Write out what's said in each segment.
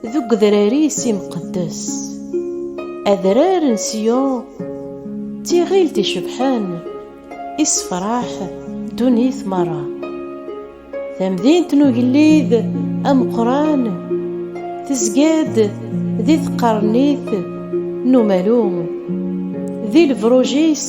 Deg udrar-is imqeddes, adrar n Siyun, d tiɣilt icebḥen, issefraḥ ddunit merra. Tamdint n ugellid ameqqran tezga-d di tqernit n umalu, di lebruj-is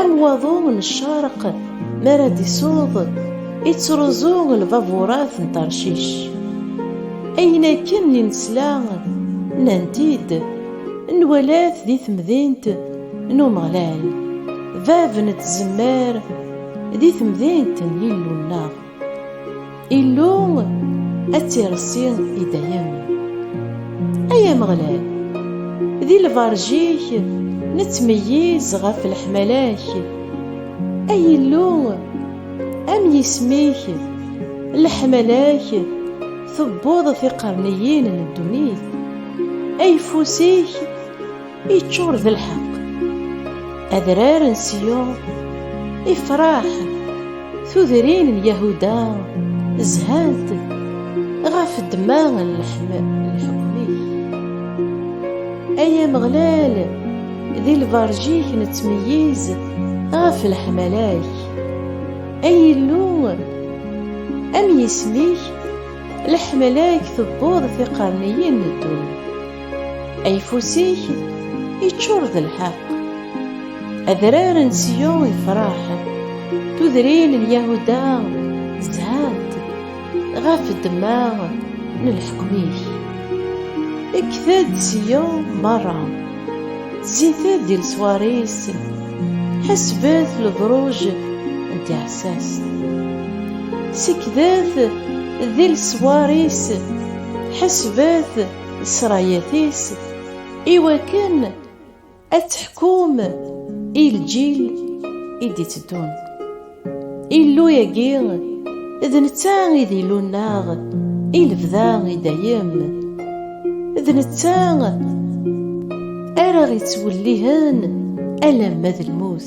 Am waḍu n ccerq mi ara d-isuḍ, ittruẓu lbaburat n Tarcic. Ayen akken i nesla, nnan-t-id, nwala-t di temdint n Umeɣlal, bab n tzemmar, di temdint n Yillu-nneɣ. Illu ad tirsi i dayem Ay Ameɣlal di lberǧ-ik nettmeyyiz ɣef leḥmala-k Ay Illu am yisem-ik leḥmala-k tewweḍ tiqerniyin n ddunit Ayeffus-ik Iččur d lḥeq adrar n Siyun ifraḥ tudrin n Yahuda zhant ɣef ddma n leḥkem-ik ay Ameɣlal di lberǧ-ik nettmeyyiz ɣef leḥmala-k ay Illu am yisem-ik leḥmala-k tewweḍ tiqerniyin n ddunit Ayfus-ik iččur d lḥeq, adrar n Siyun ifraḥ, tudrin n Yahuda zhant ɣef ddemma n leḥkem-ik. Ekted Siyun merra, zzit-d i leswar-is, ḥesbet lebruj n tiɛessast. Sekdet di leswar-is, ḥesbet srayat-is iwakken ad teḥkum i lǧil i d-itteddun. Illu-agi d netta i d illu-nneɣ i lebda i dayem. D netta ara ɣ-ittwellihen alamma d lmut.